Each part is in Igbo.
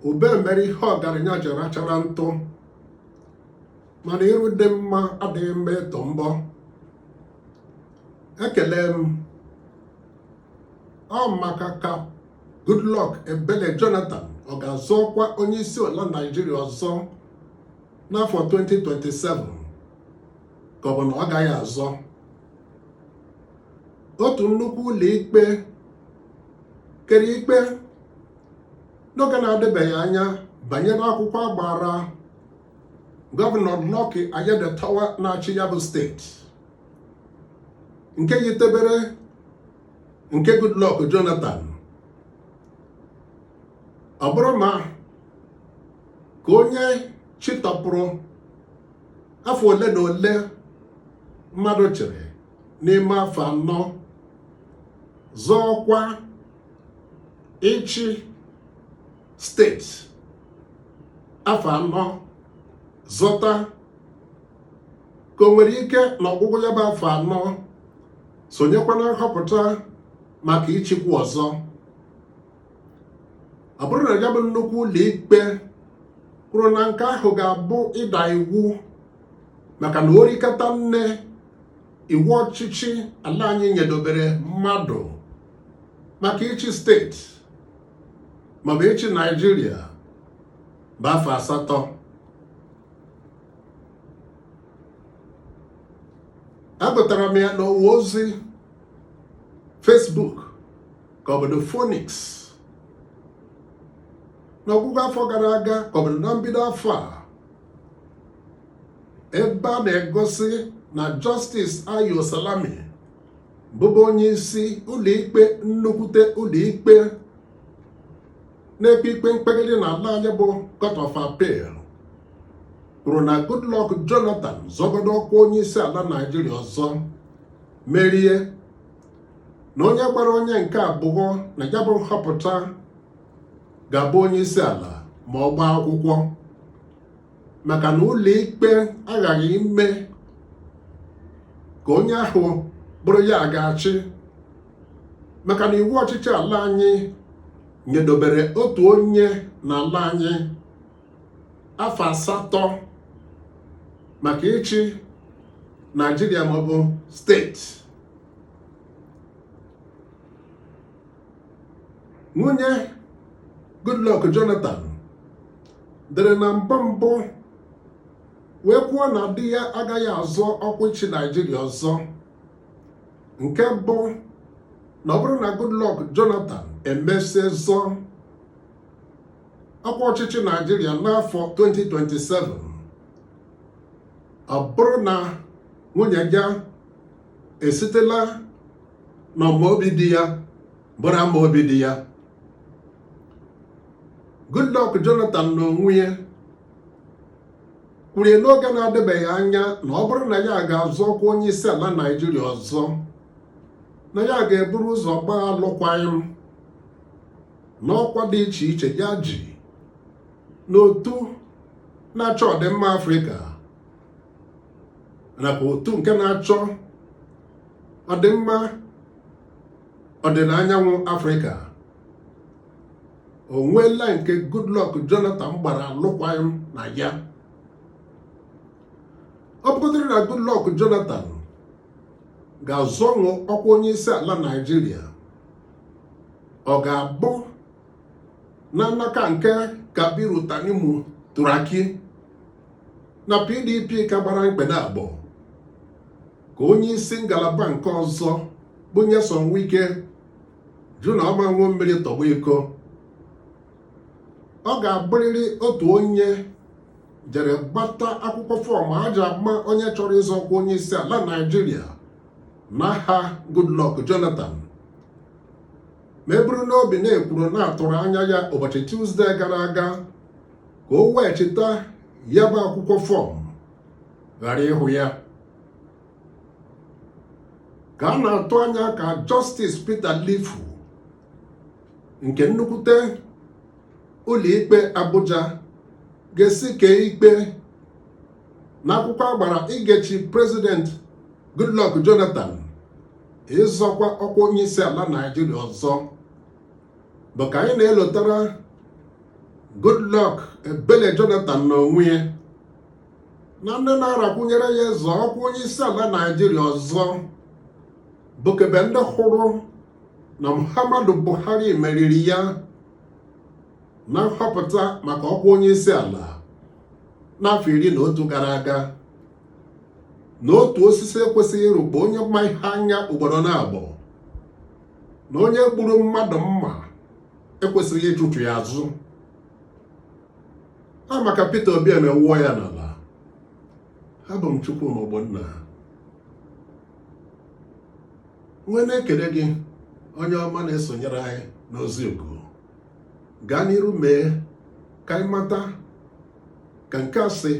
ube mere ihe ọgaranya ji rachara ntụ mana iru dị mma adịghị mma ịtụ mbọ ekele m ọ maka ka Goodluck Ebele Jonathan ọ ga-azọ ọkwa onye isi ala Naijiria ọzọ n'afọ 2027 ka ọ bụ na ọ gaghị azọ otu nnukwu ụlọ ikpe kere ikpe n'oge na-adịbeghị anya banyere akwụkwọ a gbara gọvanọ Lucky Aiyedatiwa na-achị ya bụ steeti nke yitebere nke Goodluck Jonathan ọ bụrụ maka onye chịtọpụrụ afọ ole na ole mmadụ chịrị n'ime afọ anọ zọọ ọkwa ịchị steeti afọ anọ zọta ka o nwere ike n'ọgwụgwụ ya bụ afọ anọ sonyekwa na nhọpụta maka ịchịkwa ọzọ ọ bụrụ na ya bụ nnukwu ụlọikpe kwuru na nke ahụ ga-abụ ịda iwu maka na orikata nne iwu ọchịchị ala anyị nyedobere mmadụ maka ịchị steeti maọbụ ịchị naijiria bụ afọ asatọ agụtara m ya n'ọwa ozi Facebook ka ọ bụdo Phoenix n'ọgwụgwụ afọ gara aga ka ọ bụdo na mbido afọ a ebe a na-egosi na Justice Ayo Salami bụbu onye isi ụlọikpe nnukwute ụlọikpe na-ekpe ikpe mkpegharị n'ala anyị bụ Court of Appeal kwuru na Goodluck Jonathan zọgodo ọkwa onye isi ala Naijiria ọzọ merie na onye gbara onye nke abụọ na ya bụ nhọpụta ga-abụ onye isi ala ma ọ gbaa akwụkwọ maka na ụlọikpe aghaghị ime ka onye ahụ bụrụ ya ga-achị maka na iwu ọchịchị ala anyị nyedobere otu onye n'ala anyị afọ asatọ maka ịchị Naijiria maọbụ steeti nwunye Goodluck Jonathan dere na mbụ mbụ wee kwuo na di ya agaghị azọ ọkwa ịchị Naijiria ọzọ nke bụ na ọ bụrụ na Goodluck Jonathan emesịa zọọ ọkwa ọchịchị Naijiria n'afọ 2027 ọ bụrụ na nwunye ya esitela na ọma obi di ya bụrụ ama obi di ya Goodluck Jonathan n'onwe ya kwuru n'oge na-adịbeghị anya na ọ bụrụ na ya ga-azọ ọkwa onye isi ala Naịjirịa ọzọ na ya ga-eburu ụzọ gbaa alụkwaghịm n'ọkwa dị iche iche ya ji n'otu na-achọ ọdịmma Afrịka nakwa otu nke na-achọ ọdịmma ọdịda anyanwụ Afrịka o nwela nke Goodluck Jonathan gbara alụkwaghịm na ya ọ bụgodịrị na Goodluck Jonathan ga-azọnwu ọkwa onye isi ala Naịjirịa ọ ga-abụ n'anaka nke Kabiru Tanimu Turaki na PDP ka gbara mkpede abụọ ka onye isi ngalaba nke ọzọ bụ Nyesom Wike jụ na ọ ma-aṅụ mmiri tọgbọ iko ọ ga-abụrịrị otu onye jere gbata akwụkwọ fọm e ji ama onye chọrọ ịzọ ọkwa onye isi ala naijiria n'aha Goodluck Jonathan ma e buru n'obi na e kwuru na a tụrụ anya ya ụbọchị Tuzdee gara aga ka o weghachita ya bụ akwụkwọ fọm ghara ịhụ ya ka a na-atụ anya ka jọstis Peter Lifu nke nnukwute ụlọikpe Abuja ga-esi kee ikpe n'akwụkwọ a gbara igechi prezident Goodluck Jonathan ịzọkwa ọkwa onye isi ala Naijiria ọzọ bụ ka anyị na-elotara Goodluck Ebele Jonathan n'onwe ya na ndị na-arakwụnyere ya ịzọ ọkwa onye isi ala naijiria ọzọ bụkebe ndị hụrụ na muhammadu buhari meriri ya na nhọpụta maka ọkwa onye isi ala n'afọ iri na otu gara aga na otu osisi ekwesịghị ịrụkpọ onye ma ihe anya ugboro naabọ na onye gburu mmadụ mma ekwesịghị ịchụchụ ya azụ ha maka Peter Obi eme wụọ ya n'ala abụ m Chukwuma Ogbonna m wee na-ekele gị onye ọma na-esonyere anyị n'ozi ugo gaa n'iru mee ka anyị mata ka nke a si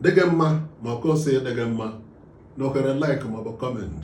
dị gị mma ma ọ ka o si dị gị mma n'ohere like maọbụ comment